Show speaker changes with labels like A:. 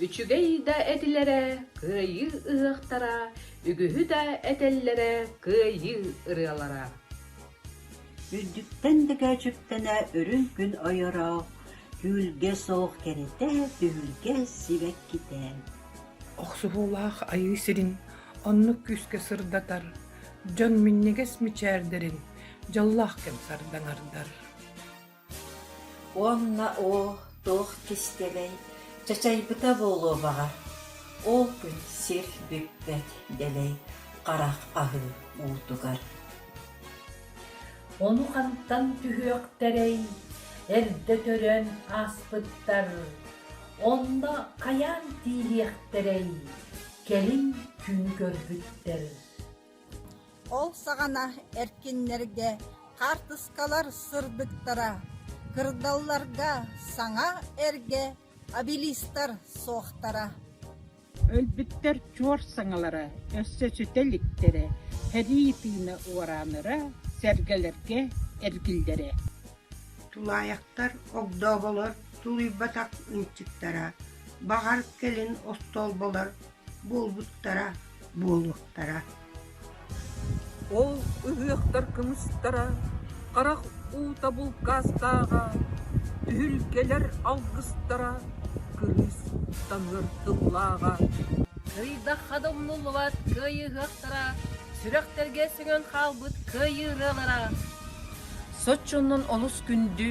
A: Үчүгэй да этилэрэ кыайыы ыһыахтара, үгүһү да этэллэрэ кыайыы ырыалара. Үрдүттэн
B: дакаачыктана үрүҥ күн ойоро, Түүлгэ суох кэритэ, түһүлгэ сибэккитэ. Охсуһуулаах
C: айыы сирин оннук күүскэ сырдатар, дьон минньигэс мичээрдэрин дьоллоох кэм сардаҥардар
B: Уонна оо, туох кистэлэҥ, чачайбыта буолуо баҕа, ол күн сир бүппэт дэлэй харах аһыы уутугар
D: Ону хантан түһүөхтэрэй, эрдэ төрөөн ааспыттар, онно хайаан тиийиэхтэрэй, кэлин күнү көрбүттэр
E: Ол саҕана эркиннэргэ хаартыскалар сырдыктара, кырдалларга саҥа эргэ обелистар суохтара
F: Өлбүттэр чуор саҥалара, өссө сүтэ иликтэрэ, сэрии тыына уораанара, сэргэлэргэ эргиллэрэ
G: Тулаайахтар, огдооболор, тулуйбатах ынчыктара, баҕар, кэлин остуолбалар буолбуттара буолуохтара
H: Ол ыһыахтар кымыстара харах уута булкаастааҕа түһүлгэлэр алгыстара кырыыс таҥыыр тыллааҕа
A: Ыйдахха да умнуллубат кыайыһыахтара сүрэхтэргэ сөҥөн хаалбыт кыайыы ырыалара соччонон олус күндү